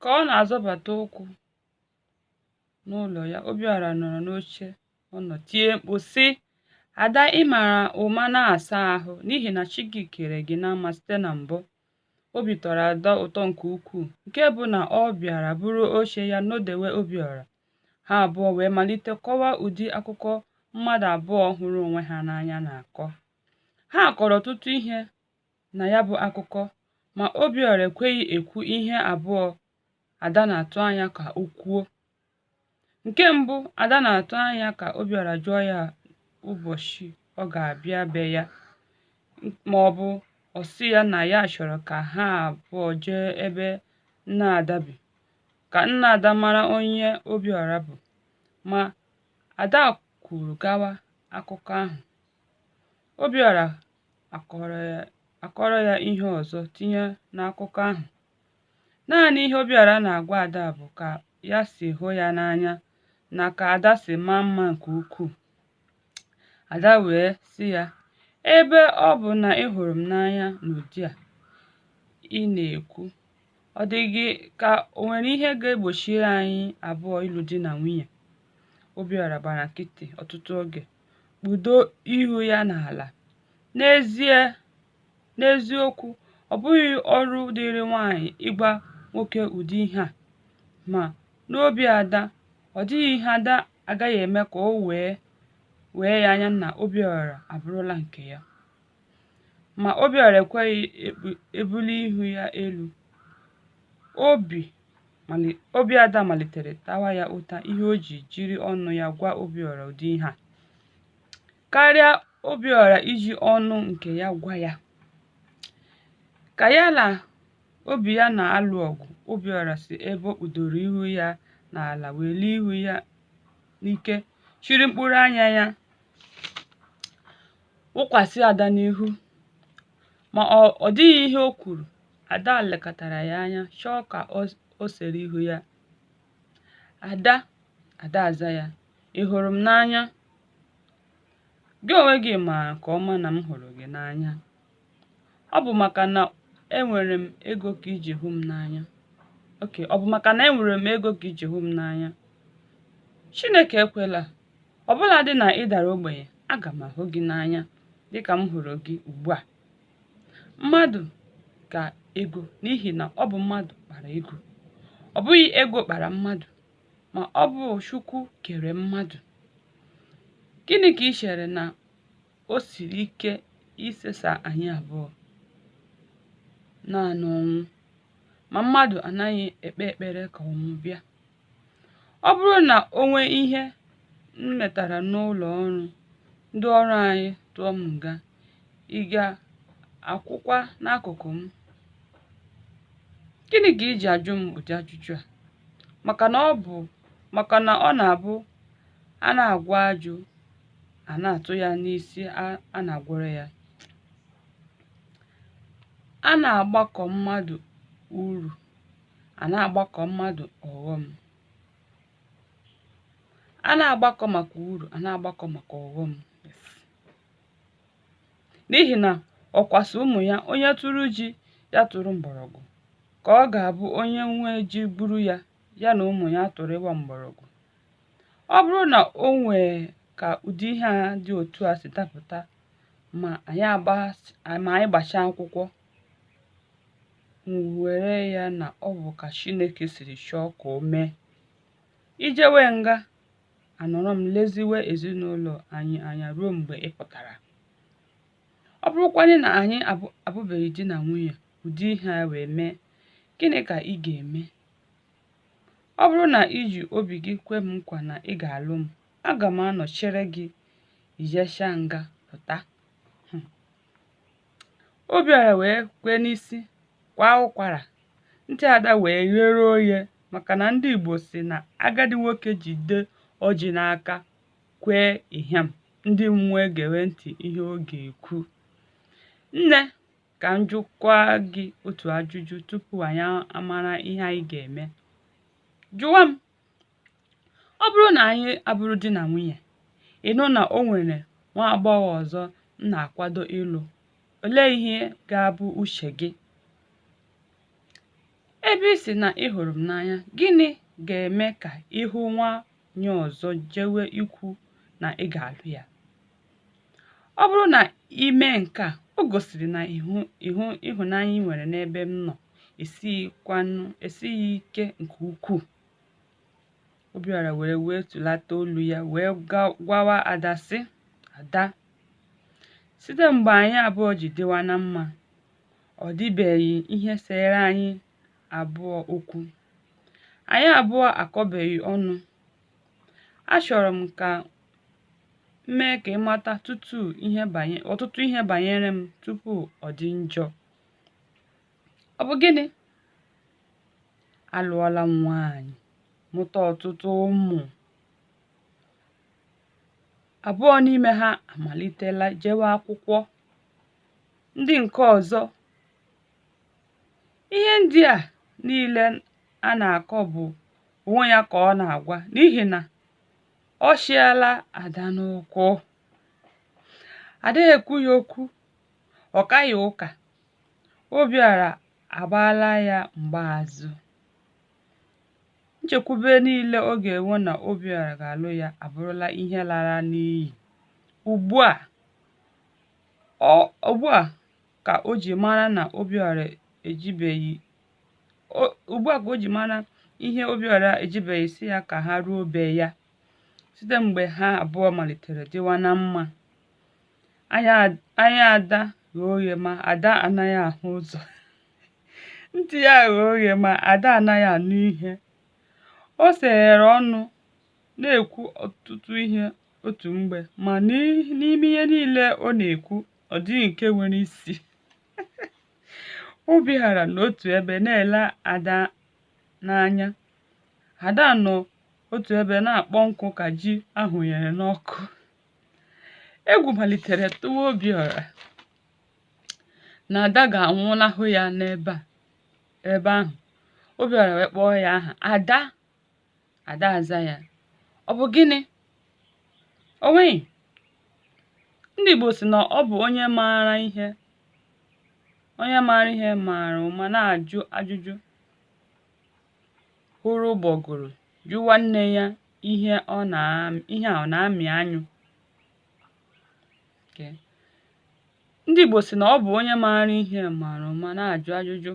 Ka ọ na-azọbata ụkwụ n'ụlọ ya, Obiọra nọrọ n'oche ọ nọ tie mkpu sị, Ada ị mara ụma na-asa ahụ n'ihi na chi gị kere gị na mma site na mbụ. Obi tọrọ Ada ụtọ nke ukwuu nke bụ na ọ bịara buru oche ya nọdewe Obiọra. Ha abụọ wee malite kọwa ụdị akụkọ mmadụ abụọ hụrụ onwe ha n'anya na-akọ. Ha kọrọ ọtụtụ ihe na ya bụ akụkọ ma Obiọra ekweghị ekwu ihe abụọ Ada na-atụ anya ka o kwuo. Nke mbụ, Ada na-atụ anya ka Obiọra jụọ ya ụbọchị ọ ga-abịa be ya ma ọ bụ ọ sị ya na ya chọrọ ka ha abụọ jee ebe nna Ada bi ka nna Ada mara onye Obiọra bụ. Ma Ada kwuru gawa akụkọ ahụ. Obiọra akọrọ ya ihe ọzọ tinye n'akụkọ ahụ. Naanị ihe Obiọra na-agwa Ada bụ ka ya si hụ ya n'anya na ka Ada si maa mma nke ukwuu. Ada wee sị ya, Ebe ọ bụ na ị hụrụ m n'anya n'ụdị a ị na-ekwu, ọ dị gị ka o nwere ihe ga-egbochiri anyị abụọ ịlụ di na nwunye? Obiọra gbara nkịtị ọtụtụ oge. kpudo ihu ya n'ala. N'eziokwu, ọ bụghị ọrụ dịịrị nwanyị ịgwa nwoke ụdị ihe a. Ma, n'obi Ada, ọ dịghị ihe Ada agaghị eme ka o wee wee ya anya na Obiọra abụrụla nke ya. Ma Obiọra ekweghị ebuli ihu ya elu. Obi Ada malitere tawa ya ụta ihe o ji jiri ọnụ ya gwa Obiọra ụdị ihe a. Karịa Obiọra iji ọnụ nke ya gwa ya. Ka ya na obi ya na-alụ ọgụ, Obiọra si ebe o kpudoro ihu ya n'ala welie ihu ya n'ike chịrị mkpụrụ anya ya wụkwasị ada n'ihu ma ọ dịghị ihe o kwuru ada lekatara ya anya chọọ ka o sere ihu ya ada ada aza ya ị hụrụ m n'anya gị onwe gị ma nke ọma na m hụrụ gị n'anya ọ bụ maka na enwere m ego ka i ji hụ m n'anya okay ọ bụ maka na enwere m ego ka i ji hụ m n'anya chineke ekwela ọ bụladị na ị dara ogbenye aga m ahụ gị n'anya dịka m hụrụ gị ugbu a mmadụ ka ego n'ihi na ọ bụ mmadụ kpara ego ọ bụghị ego kpara mmadụ ma ọ bụ chukwu kere mmadụ gịnị ka ị chere na O siri ike isesa anyị abụọ naanị ọnwụ, ma mmadụ anaghị ekpe ekpere ka ọnwụ bịa. Ọ bụrụ na o nwee ihe m metara n'ụlọ ọrụ, ndị ọrụ anyị tụọ m nga, ị ga-akwụkwa n'akụkụ m? Gịnị ka i ji ajụ m ụdị ajụjụ a? Maka na ọ bụ maka na ọ na-abụ a na-agwọ ajụ a na-atụ ya n'isi a- a na-agwọrọ ya a na-agbakọ mmadụ uru a na-agbakọ mmadụ ọghọm a na-agbakọ maka uru a na-agbakọ maka ọghọm Yes. n'ihi na ọkwa sị ụmụ ya onye tụrụ ji ya tụrụ mgbọrọgwụ ka ọ ga-abụ onye nwe ji gburu ya ya na ụmụ ya tụrụwa mgbọrọgwụ ọ bụrụ na o nwee ka ụdị ihe a dị otu a si dapụta ma anyị agba ma anyị gbachaa akwụkwọ were ya na ọ bụ ka Chineke siri chọọ ka o mee i jewe nga anọrọ m leziwe ezinụlọ anyị anya ruo mgbe ị pụtara ọ bụrụkwanye na anyị abụbeghị di na nwunye ụdị ihe a wee mee gịnị ka ị ga-eme Ọ bụrụ na i ji obi gị kwe m nkwa na ị ga-alụ m, aga m anọ chere gị i jeshaa nga pụta. Hmm. Obiọra wee kwee n'isi kwa ụkwara, ntị Ada wee ghere oghe maka na ndị Igbo sị na agadi nwoke jide ọjị n'aka kwee ịhịam ndị mmụọ egewe ntị ihe ọ ga-ekwu. Nne Ka m jụkwa gị otu ajụjụ tupu anyị amara ihe anyị ga-eme. Jụwa m, ọ bụrụ na anyị abụrụ di na nwunye, ị nụ na o nwere nwa agbọghọ ọzọ m na-akwado ịlụ, olee ihe ga-abụ uche gị? Ebe ị sị na ị hụrụ m n'anya, gịnị ga-eme ka ị hụ nwa nyị ọzọ jewe ikwu na ị ga-alụ ya ọ bụrụ na ị mee nke a o gosiri na ịhụnanya ị nwere n'ebe m nọ esighị ike nke ukwuu Obiọra were wee tụlata olu ya wee gwawa Ada sị Ada site mgbe anyị abụọ ji dịwa na mma ọ dịbeghị ihe sere anyị abụọ okwu. Anyị abụọ akọbeghị ọnụ. Achọrọ m ka m mee ka ị mata ọtụtụ ihe banyere m tupu ọ dị njọ. Ọ bụ gịnị? Alụọla m nwaanyị, mụta ọtụtụ ụmụ. Abụọ n'ime ha amalitela jewe akwụkwọ. Ndị nke ọzọ ihe ndị a niile a na-akọ bụ onwe ya ka ọ na-agwa n'ihi na ọ chịala ada n'ụkwụ Ada ekwughị okwu ọ kaghị ụka Obiọra agbaala ya mgbaazụ nchekwube niile ọ ga-enwe na Obiọra ga-alụ ya abụrụla ihe lara n'iyi ugbu a ka o ji mara na Obiora ejibeghị ugbu a ka o ji mara ihe Obiora ejibeghị sị ya ka ha ruo be ya site mgbe ha abụọ malitere dịwa na mma anya Ada ghe oghe ma ada anaghị ahụ ụzọ ntị ya ghe oghe ma ada anaghị anụ ihe o seghere ọnụ na-ekwu ọtụtụ ihe otu mgbe ma n'ime ihe niile ọ na-ekwu ọ dịghị nke nwere isi Obiọra nọ otu ebe na-ele ada n'anya ada nọ otu ebe na-akpọ nkụ ka ji a hụnyere n'ọkụ egwu malitere tụwa obiọra na ada ga-anwụnahụ ya n'ebe ahụ obiọra wee kpọọ ya aha ada ada aza ya ọ bụ gịnị o nweghị ndị Igbo sị na ọ bụ onye maara ihe onye maara ihe maara ụma na-ajụ ajụjụ hụrụ ụgbọgụrụ jụwa nne ya ihe a ọ na-amị anyụ ndị Igbo sị na ọ bụ onye maara ihe maara ụma na-ajụ ajụjụ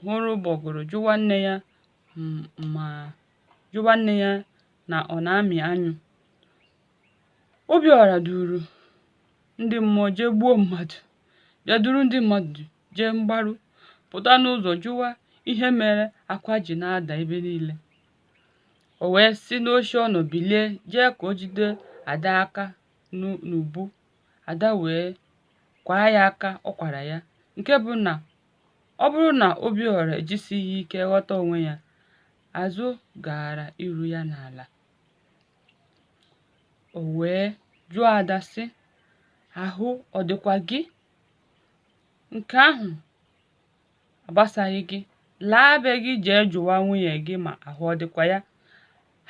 hụrụ ụgbọgụrụ jụwa nne ya ma jụwa nne ya na ọ na-amị anyụ Obiọra duru ndị mmụọ jee gbuo mmadụ bịa duru ndị mmadụ jee mgbaru pụta n'ụzọ jụwa ihe mere akwa ji na-ada ebe niile o wee si n'oche ọ nọ bilie jee ka o jide ada aka n'ubu ada wee kwaa ya aka ọ kwara ya nke bụ na Ọ bụrụ na Obiora ejisighị ike ghọta onwe ya, azụ gaara iru ya n'ala. O wee jụọ Ada sị, ahụ ọ dịkwa gị? Nke ahụ agbasaghị gị. Laa be gị jee jụwa nwunye gị ma ahụ ọ dịkwa ya.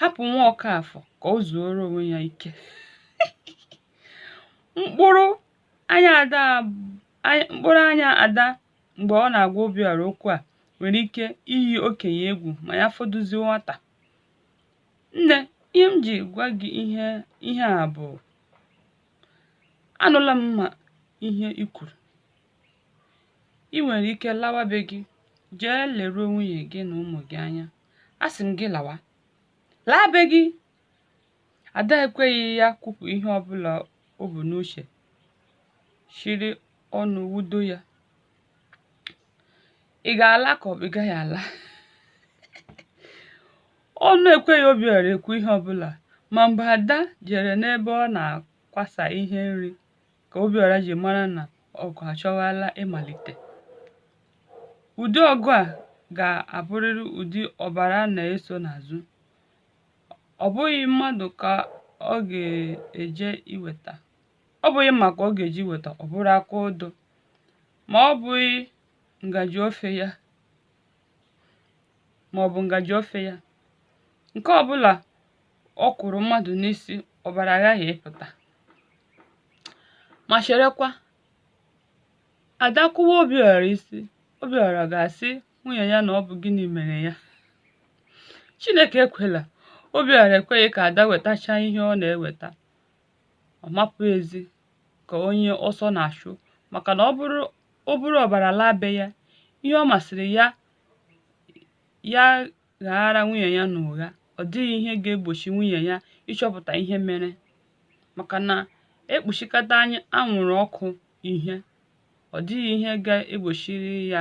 Hapụ nwa Ọkafọ ka o zuoro onwe ya ike. Mkpụrụ Anya Ada mkpụrụ anya Ada mgbe ọ na-agwa Obiọra okwu a nwere ike iyi okenye egwu ma ya fọdụzie nwata. Nne, ihe m ji gwa gị ihe a bụ anụla m ma ihe i kwuru. I nwere ike lawa be gị jee leruo nwunye gị na ụmụ gị anya. Asị m gị lawa. Laa be gị Ada ekweghị ya kwupụ ihe ọbụla o bu n'uche, chịrị ọnụ wudo ya. Ị ga-ala ka ọ bụ ị gaghị ala? Ọnụ ekweghị Obiọra ekwu ihe ọbụla ma mgbe Ada jere n'ebe ọ na-akwasa ihe nri ka Obiọra ji mara na ọgụ achọwala ịmalite. Ụdị ọgụ a ga-abụrịrị ụdị ọbara na-eso n'azụ. ọ bụghị mmadụ ka ọ ga-eje iweta ọ bụghị mma ka ọ ga-eje iweta ọ bụrụ aka odo ma ọ bụghị ngaji ofe ya ma ọ bụ ngaji ofe ya nke ọ bụla ọ kụrụ mmadụ n'isi ọbara aghaghị ịpụta ma cherekwa ada kụwaa obiọra isi obiọra ga-asị nwunye ya na ọ bụ gịnị mere ya chineke ekwela obiọra ekweghị ka ada wetachaa ihe ọ na-eweta ọ mapụ ezi ka onye ọsọ na-achụ maka na o buru ọbara laa be ya ihe ọ masịrị ya ya ghaara nwunye ya n'ụgha ọ dịghị ihe ga-egbochi nwunye ya ịchọpụta ihe mere maka na e kpuchikata anyị anwụrụ ọkụ ihe ọ dịghị ihe ga-egbochiri ya